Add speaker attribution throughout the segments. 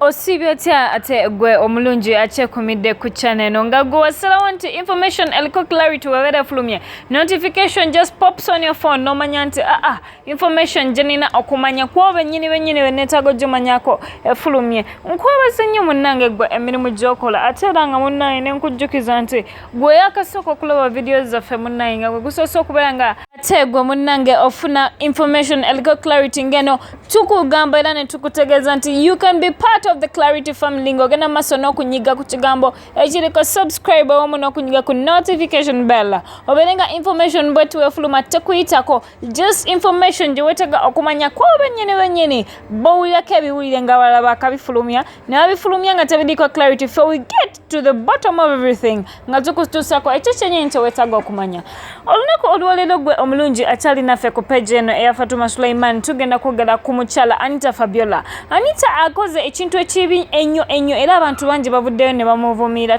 Speaker 1: osiibye otya ate gwe omulungi akyekumidde ku channel eno nga gwe wasalawo nti information eliko clarity webeera efulumye notification just pops on your phone nomanya nti aa ah, ah, information gyenina okumanya kuoba ennyini bennyini beneetaaga ojjomanyako efulumye nkwebaza nnyo munnange gwe emirimu gyokola ate era nga munnange nenkujjukiza nti gwe yakasooka okulaba vidiyo zaffe munnaye nga gwe gusoose okubeera nga ate gwe munnange ofuna information eliko clarity ngeno tukugamba era ne tukutegeeza nti you can be part of the clarity family ng'ogenda mu maaso n'okunyiga ku kigambo ekiriko subscribe owamu n'okunyiga ku notification bell obeere nga information bwe tuwefuluma tekuyitako just information gye weetega okumanya ku bennyini bennyini bowulirako ebiwulire nga balala bakabifulumya ne babifulumya nga tebiriiko clarity fe we get to the bottom of everything nga tukutuusako ekyo kyenyi nti wetaaga okumanya olunaku olwaleero gwe omulungi akyali naffe ku peji eno eya fatuma suleiman tugenda kwogera ku mukyala anita fabiola anita akoze ekintu ekibi ennyo ennyo era abantu bangi bavuddeyo ne bamuvumiira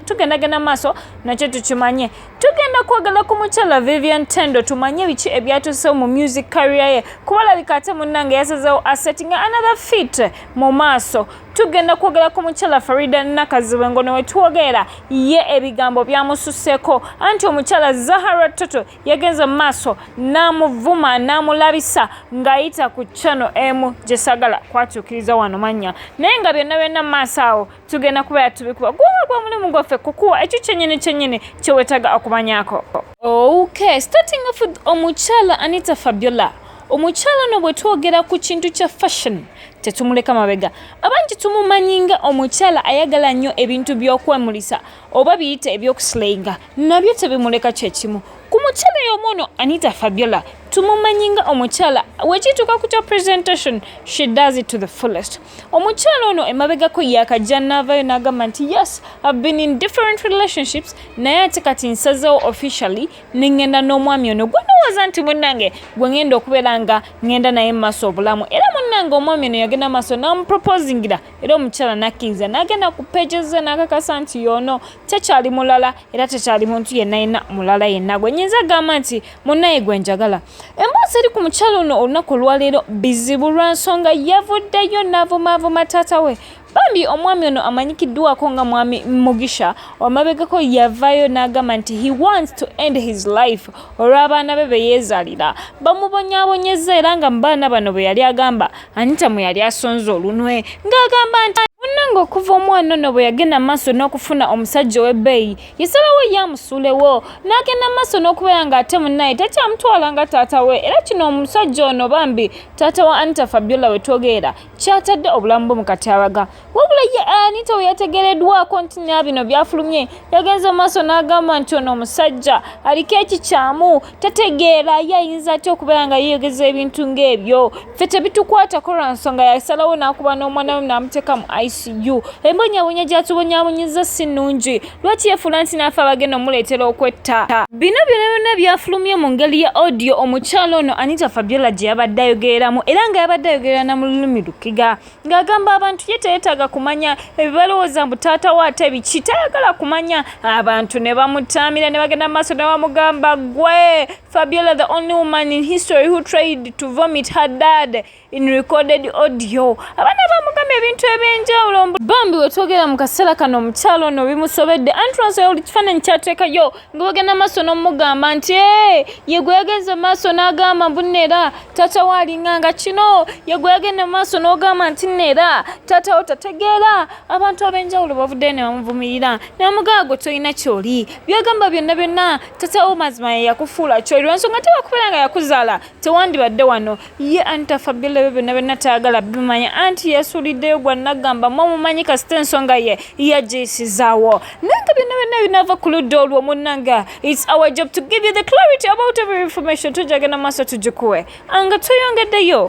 Speaker 1: tugendagenda maaso nakyo tukimanye tugenda kwogera ku mukyala vivian tendo tumanye biki ebyatusewo mu music carrier ye kubalabika ate munnange yasazewo asetting another fit mu maaso tugenda kwogera ku mukyala farida nakaziwe ngono wetwogeera ye ebigambo byamususeko anti omukyala zahara toto yagenze mu maaso n'amuvuma n'amulabisa ng'ayita ku chano emu gyesagala kwatuukiriza wano mannya naye nga byonna byonna mu maaso awo tugenda kubeera tubikuba guba gwa mulimu gwaffe kukuwa ekyo kyenyini kyenyini kyewetaga okumanyako ok starting off omukyala anita fabiola omukyala no bwe twogera ku kintu kya fashion tetumuleka mabega abangi tumumanyi nga omukyala ayagala nnyo ebintu by'okwemulisa oba biyite ebyokusilayinga nabyo tebimuleka kyekimu ku mukyala y'omu ono anita fabiola tumumanyi nga omukyala wekituuka ku kya presentation she does it to the fullest omukyala ono emabegako yakajja naavayo n'agamba nti yes ive been in different relationships naye ate kati nsazewo officially nengenda n'omwami ono gwenowooza nti munange gwe ngenda okubeera nga ngenda naye mumaaso obulamu era munange omwami ono yagenda maaso namuproposingira era omukyala nakkiriza nagenda ku pegeze nakakasa nti yoono tekyali mulala era tekyali muntu yenna yenna mulala yenna gwe nyinza agamba nti munaye gwe njagala emboozi eri ku mukyala ono olunaku olwaleero bizibu lwa nsonga yavuddeyo navumavuma taata we Bambi omwami ono amanyikiddwako nga mwami Mugisha wamabegako yavaayo n'agamba nti he wants to end his life olw'abaana be be yeezaalira bamubonyaabonyezza era nga mu baana bano bwe yali agamba Anita mwe yali asonze olunwe ng'agamba nti munnange okuva omwana ono bwe yagenda maaso n'okufuna omusajja ow'ebbeeyi yasalawo ye amusuulewo n'agenda maaso n'okubeera ng'ate munnaye takyamutwala nga taata we era kino omusajja ono bambi taata wa Anita Fabiola we twogerera kyatadde obulamu bwe mu katyabaga wabula ye anita we yategereddwako nti na bino byafulumye yagenze mu maaso n'agamba nti ono omusajja aliko ekikyamu tategeera ye ayinza atya okubeera nga yeeyogeza ebintu ng'ebyo ffe tebitukwatako lwa nsonga yasalawo n'akuba n'omwana we naamuteeka mu icu embonyabonya gyatubonyabonyeza si nnungi lwaki yefuula nti n'afe abagenda omuleetera okwetta bino byona byona byafulumye mu ngeri ya audio omukyalo ono anita fabiola gye yabadde ayogereramu era nga yabadde ayogerera na mu lulimi lukiga ng'agamba abantu ye teyetaaga kumanya ebibalowooza mbu taata we ate biki tayagala kumanya abantu ne bamutaamira ne bagenda mu maaso ne bamugamba gwe fabiola the only woman in history who tried to vomit her dad in recorded audio abaana bamugamba ebintu ebyenjawulo bambi wetwogera mu kaseera kano omukyalo ono bimusobedde anti lwansonga buli kifaananyi kyateekayo nga bagenda maaso n'omugamba nti ee yegwe yagenze maaso n'agamba mbu neera taata we alinga nga kino yegwe yagenda maaso n'ogamba nti neera taata wo tategeera abantu ab'enjawulo bavuddeyo ne bamuvumirira ne bamugamba gwe tolina kyoli byagamba byonna byonna taata wo mazima ye yakufuula kyoli lwansonga tewakubeera nga yakuzaala tewandibadde wano ye anti afabila ebyo byonna byonna tayagala bimanya anti yasuliddeyo gwa nagamba mwamumanyi kasita ensonga ye yagiyisizaawo naye nga byonna byonna binaava ku ludda olwo munnanga its our job to give you the clarity about every information tujagenda maaso tugikuwe anga tweyongeddeyo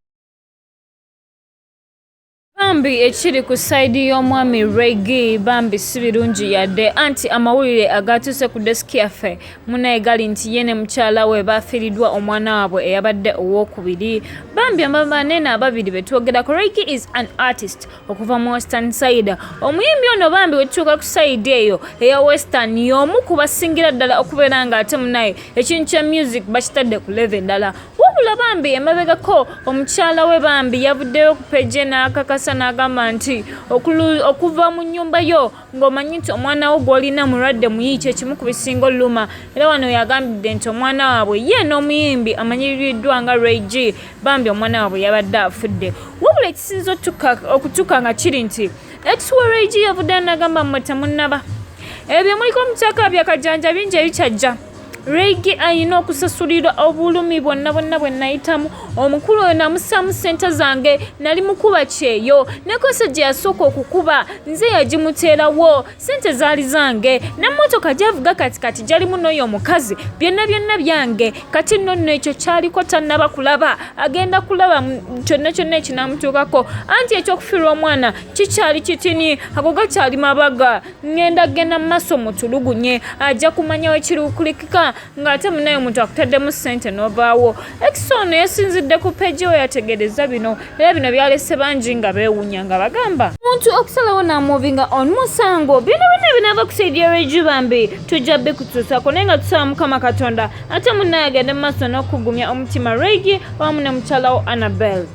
Speaker 1: bambi ekiri ku sayidi y'omwami regi bambi si birungi yadde anti amawulire agaatuuse ku desiki yaffe munaye gali nti ye ne mukyala we baafiiriddwa omwana waabwe eyabadde owookubiri bambi ababaneena ababiri be twogerako regi is an artist okuva mu western sayida omuyimbi ono bambi wetutuuka ku sayidi eyo eya western y'omu ku basingira ddala okubeera ng'ate munaye ekintu kya music bakitadde ku leve endala wabula bambi emabegako omukyala we bambi yavuddeyo ku peje n'akakasa n'agamba nti okuva mu nnyumba yo ng'omanyi nti omwana wo gw'olina mulwadde muyi kyekimu ku bisinga oluma era wano yagambidde nti omwana waabwe ye n'omuyimbi amanyiriddwa nga reg bambi omwana waabwe yabadde afudde wabula ekisinza okutuka nga kiri nti ekiwa reg yavuddeyo n'agamba mmwe temunnaba ebyo muliko mukyaka byakajanja bingi ebikyajja Reigi alina okusasulirwa obulumi bwonna bwonna bwe nayitamu omukulu oyo namusaamu ssente zange nali mukuba kyeyo nekosa gye yasooka okukuba nze yagimuteerawo ssente zaali zange nemmotoka gyavuga kati kati gyalimu n'oyo omukazi byonna byonna byange kati nno nno ekyo kyaliko tannaba kulaba agenda kulaba kyonna kyonna ekinamutuukako anti ekyokufiirwa omwana kikyali kitini ago gakyali mabaga ngenda genda mumaso mutulugunye ajja kumanya wekirukulikika ng'ate munaye omuntu akutaddemu ssente n'ovaawo ekisa ono yasinzidde ku peji we yategeereza bino era bino byalese bangi nga beewunya nga bagamba omuntu okusalawo namuvinga on musango bino bino binaava kusaidia reju bambi tujja bikutuusako naye nga tusaba mukama katonda ate munaye agende mu maaso n'okugumya omutima regi wamu ne mukyalawo annabelle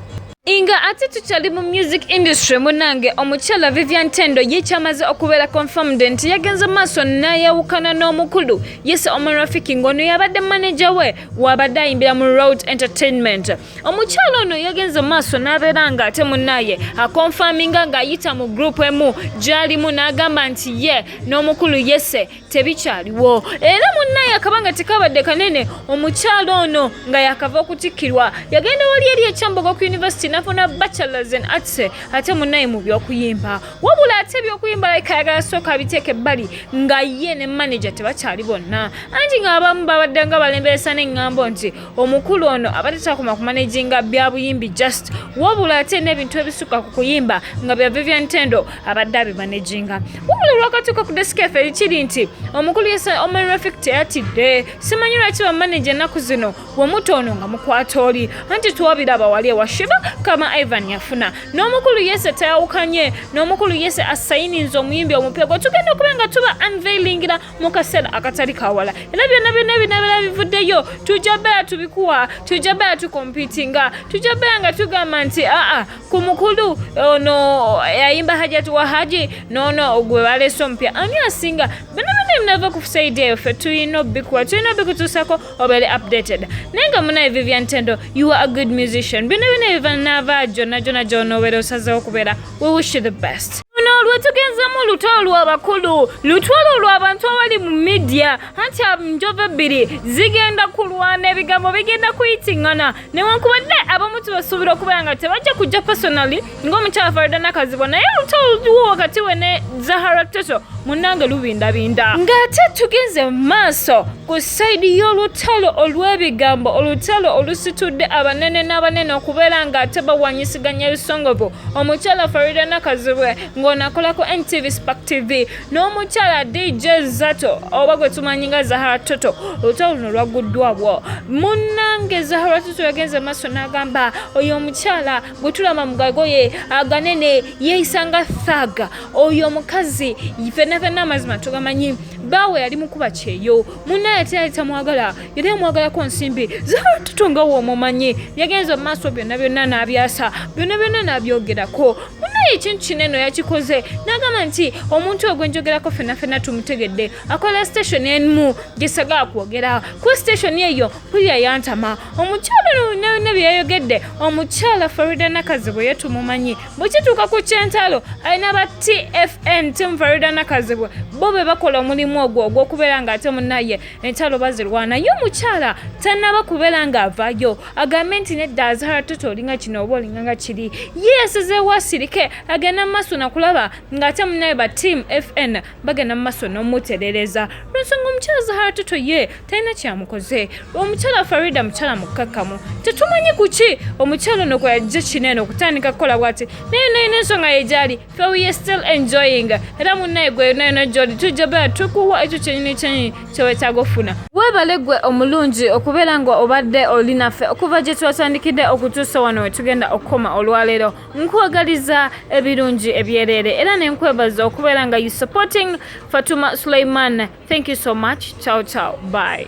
Speaker 1: nga ate tukyali mu music industry munange omukyala vivian tendo ye kyamaze okubeera confirmed nti yagenze maaso nayawukana n'omukulu yese omunrafiki ng'ono yabadde manaja we wabadde ayimbira mu road entertainment omukyala ono yagenze maaso n'abeera nga ate munaye akonfaminga ng'ayita mu group emu gyalimu n'agamba nti ye n'omukulu yese tebikyaliwo era munnaye akabanga tekabadde kanene omukyalo ono nga yakava okutikkirwa yagenda wali eri ekyambogo ku yunivasiti nafuna bachelors and arts ate munnaye mu byokuyimba wabula ate ebyokuyimba layika ayagala sooka abiteeka ebbali nga ye ne maneja tebakyali bonna anti nga abamu babadde nga balemberesa n'eŋŋambo nti omukulu ono abadde takoma ku manejinga bya buyimbi just wabula ate n'ebintu ebisukka ku kuyimba nga bya vivian tendo abadde abimaneginga wabula olwakatuuka ku desika efe ekiri nti omukulu omerefik teyatidde simanyi lwaki bamaneja ennaku zino wemuta ono nga mukwata oli anti twabiraba wali ewa shiva kama ivan yafuna n'omukulu yese tayawukanye n'omukulu yese asayininza omuyimbi omupya gwe tugenda okuba nga tuba unveilingira mu kaseera akatali kawala era byonna byonna ebinabera bivuddeyo tujja beera tubikuwa tujja beera tukompitinga tujja beera nga tugamba nti aa ku mukulu ono eh, yayimba hajati wa haji nono gwe baleese omupya ani asinga banamane munava ku saidi eyo ffe tulina obikuwa tulina obikutuusako obeere updated naye nga munaye vivian tendo you are a good musician bino bino ebivanava jona jona gyonobeera osazeho okubeera we wish you the best lwetugenzamu olutalo lwabakulu lutwalo lwabantu abali mu midia anti njovu ebbiri zigenda kulwana ebigambo bigenda kuyitingana newankubadde abamu tubasuubira okubeera nga tebajja kujja personally ng'omukyala farida nakazibwa naye oluta oluwo wakati we ne zahara toto munange lubindabinda ng'ate tugenze mu maaso ku sayidi y'olutalo olw'ebigambo olutalo olusitudde abanene n'abanene okubeera ng'ate bawanyisiganya ebisongovu omukyala farida nakazibwe ng'onakolako ntv spak tv n'omukyala dj zato oba gwe tumanyi nga zahara toto olutalo luno lwagguddwabwo munnange zahara toto yagenze maaso n'agamba oyo omukyala gwe tulaba mugagoye aganene yeeyisa nga thaga oyo omukazi fenna fenna amazima tugamanyi baawe yali mukuba kyeyo munnaye ate yali tamwagala yali amwagalako nsimbi zatuto nga woomumanyi yagenza mu maaso byonna byonna n'abyasa byonna byonna n'abyogerako munaye ekintu kino eno yakikoze n'agamba nti omuntu ogwenjogerako fena fena tumutegedde akola station emu gyesagala kwogera ku station eyo pulira yantama omukyalo byonna byonna bye yayogedde omukyala farida nakazibwe ye tumumanyi bwe kituuka ku kyentalo alina ba tfn tim farida nakazibwe bo be bakola omulimu ogwo ogw'okubeera ng'ate munaye entalo bazirwana ye omukyala tanaba kubeera nga avayo agambe nti nedda azara toto olinga kino oba olinga nga kiri ye yasazeewo asirike agenda mumaaso nakulaba ng'ate munaye ba team fn bagenda mumaaso n'omuterereza lwensonga omukyala zahara toto ye talina kyamukoze omukyala farida mukyala mukkakkamu tetumanyi kuki omukyala ono kweyajja kino eno okutandika kukola bwati naye nalina ensonga ye gyali So we are still enjoying era munnaye gwe yonna yonna gyoli tujja beera tukuwa ekyo kyenyini kyenyini kyewetaaga okufuna weebale gwe omulungi okubeera nga obadde oli naffe okuva gye twatandikidde okutuusa wano we tugenda okukoma olwaleero nkwagaliza ebirungi ebyereere era ne nkwebaza okubeera nga you supporting fatuma suleiman thank you so much ciao ciao bye